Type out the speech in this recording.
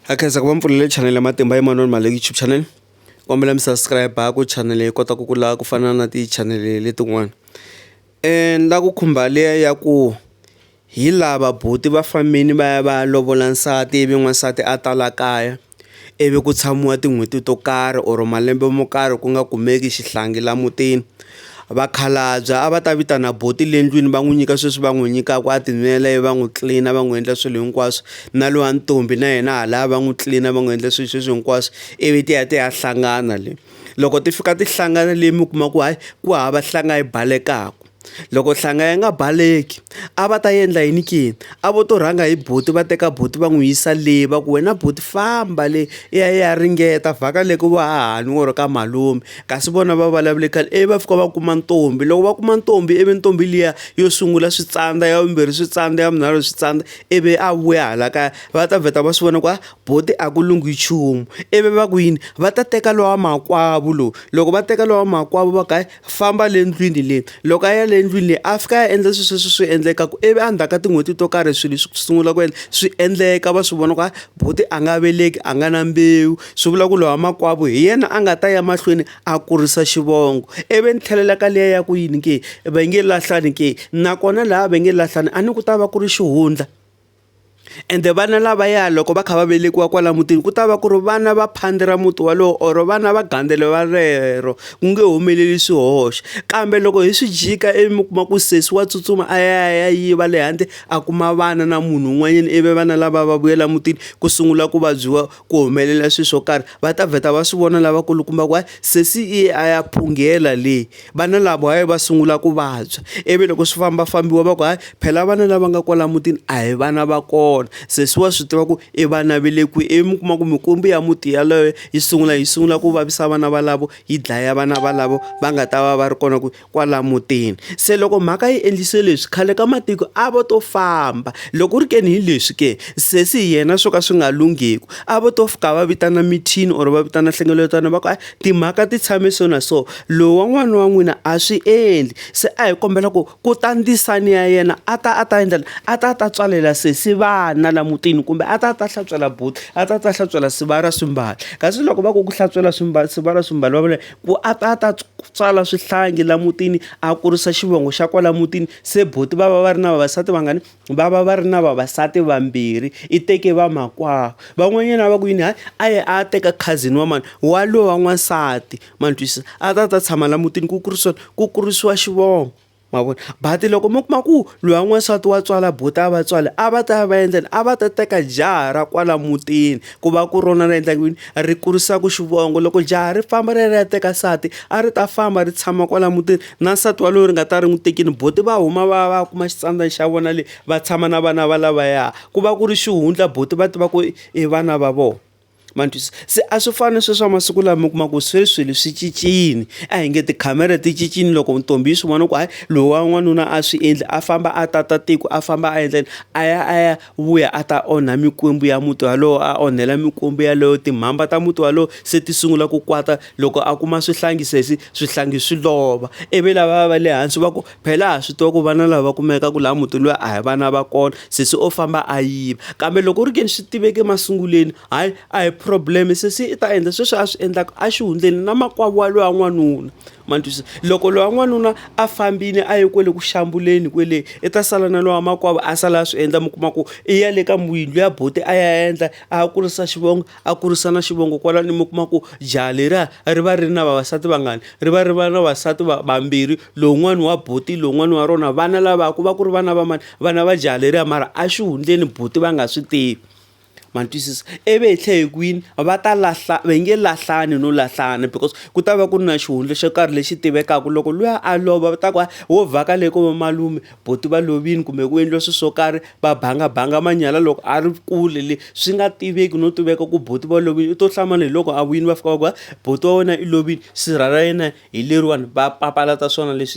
Ha khensa ku va mi pfulele channel ya Matimba Emmanuel Male YouTube channel kombela mi subscribe ku channel yi kota ku kula ku fana na ti channel letin'wana ni la ku khumba liya ya ku hi lava buti va fambini va ya va ya lovola nsati ivi n'wansati a ta la kaya ivi ku tshamiwa tin'hweti to karhi or malembe mo karhi ku nga kumeki xihlangi la mutini. Vakhalabya a va ta vitana buti le ndlwini va n'wi nyika sweswi va n'wi nyikaka a tinwela ivi va n'wi tlilina va n'wi endla swilo hinkwaswo na lowa ntombi na yena halaya va n'wi tlilina va n'wi endla swilo sweswi hinkwaswo ivi ti ya ti ya hlangana le loko ti fika ti hlangana le mi kuma ku hayi ku hava hlanga yi balekaka loko hlanga yi nga baleki a va ta endla yini ke a vo to rhanga hi buti va teka buti va n'wi yisa le va ku wena buti famba le i ya i ya ringeta vhaka le ku va hahani or ka malume. kasi vona va vulavule khale ivi va fika va kuma ntombi loko va kuma ntombi ivi ntombi liya yo sungula swi tsandza ya vumbirhi swi tsandza ya vunharhu swi tsandza ivi a vuya hala kaya va ta vheta va swi vona ku a ah, boti a ku lunghi nchumu ivi va ku yini va ta teka lowa makwavo lowu loko va teka lowa makwavo va kae famba le ndlwini leyi loko a ya le ndlwini leyi a fika ya endla swesweswo swi endlekaku ivi endzhaku ka tin'hweti to karhi swilo swi sungula ku endla swi endleka va swi vona ku a ah, Buti a nga veleki a nga na mbewu swi vula ku lowa makwavo hi yena a nga ta ya mahlweni a kurisa xivongo ivi ni tlhelela ka liya ya ku yini ke va nge lahlani ke nakona laha va nge lahlani a ni ku ta va ku ri xihundla ende vana lava ya loko va kha va velekiwa kwala mutini ku ta va ku ri vana va phandi ra muti walowo or vana va gandele va rero ku nge humeleli swihoxo kambe loko hi swi jika ivi mi kuma ku sesi wa tsutsuma a ya ya yiva le handle a kuma vana na munhu un'wanyana ivi vana lava va vuyela mutini ku sungula ku vabyiwa ku humelela swilo swo karhi va ta vheta va swi vona lavakulukumba ku hayi sesi i a ya phunghela leyi vana lava hayi va sungula ku vabya ivi loko swi famba fambiwa va ku hayi phela vana lava nga kwala mutini a hi vana va kona sesi wa swi tiva ku i vana ve le kwihi ivi mi kuma ku mikwembu ya muti yaloye yi sungula yi sungula ku vavisa vana valavo yi dlaya vana valavo va nga ta va va ri kona ku. kwala mutini se loko mhaka yi endlise leswi khale ka matiko a vo to famba loko ri keni hi leswi ke sesi hi yena swo ka swi nga lunghiku a vo to fika va vitana mithini or va vitana nhlengeletano va ku a timhaka ti tshame so na so lowu wa n'wana wa n'wina a swi endli se a hi kombela ku ku ta ndzisani ya yena a ta a ta endla a ta a ta tswalela sesi vana la mutini kumbe a ta a ta hlantswela buti a ta a ta hlantswela siva ra swimbalo kasi loko va ku ku hlantswela swimbalo siva ra swimbalo va vula ku a ta a ta tswala swihlangi laha mutini a kurisa xivongo xa kwala mutini se buti va va va ri na vavasati vangani va va va ri na vavasati vambirhi i teke va makwavo van'wanyana va ku yini hayi a ye a teka cousin wa mani wa lowa n'wansati ma ni twisisa a ta a ta tshama laha mutini ku kurisiwa ku kurisiwa xivongo. ma vona but loko mi kuma ku loyi wa n'wansati wa tswala buti a va tswala a va ta ya va endleni a va ta teka jaha ra kwala mutini ku va ku rona ri endla ku yini ri kurisaka xivongo loko jaha ri famba ri ya ri ya teka nsati a ri ta famba ri tshama kwala mutini na nsati walowo ri nga ta ri n'wi tekini buti va huma va va kuma xitsandzani xa vona le va tshama na vana va lavaya ku va ku ri xihundla buti va tiva ku i vana va vona. ma ni twisisa se a swi fani na sweswi swa masiku lama mi kuma ku sweswi swilo swi cincile a hi nge tikhamera ti cincile loko ntombi yi swi vona ku hayi lowa n'wanuna a swi endli a famba a tata tiko a famba a endleni a ya a ya vuya a ta onha mikwembu ya muti walowo a onhela mikwembu yaleyo timhamba ta muti walowo se ti sungula ku kwata loko a kuma swihlangi sesi swihlangi swi lova ivi lava va le hansi va ku Phela ha swi tiva ku vana lava kumekaka laha mutini luya a hi vana va kona sesi o famba a yiva kambe loko u ri ke ni swi tiveka emasungulweni hayi a hi problem sesi i ta endla sweswi a swi endlaka a xihundleni na makwavo wa loyi wa n'wanuna ma twisisa loko loyi wa n'wanuna a fambile a ye kwale ku xiambulweni kwele i ta sala na lowa makwavo a sala a swi endla mi kuma ku i ya le ka n'wini luya buti a ya endla a ya kurisa xivongo. a kurisa na xivongo kwalani mi kuma ku jaha leriya ri va ri ri na vavasati vangani ri va ri va na vavasati vambirhi lowun'wani wa buti lowun'wani wa rona vana lava ku va ku ri vana va mani vana va jaha leriya mara a xihundleni buti va nga swi tivi ma twisisa ivi hi tlhe hi kwini va ta lahla va nge lahlani no lahlana because ku ta va ku ri na xihundla xo karhi lexi tivekaka loko luya a lova va ta ku wo vhaka le ko va malume boti va lovini kumbe ku endliwe swilo swo karhi va banga banga manyala loko a ri kule le swi nga tiveki no tiveka ku boti va lovini u to hlamala hi loko a vuyini va fika va ku boti wa wena i lovini sirha ra yena hi leriwani va papalata swona leswi.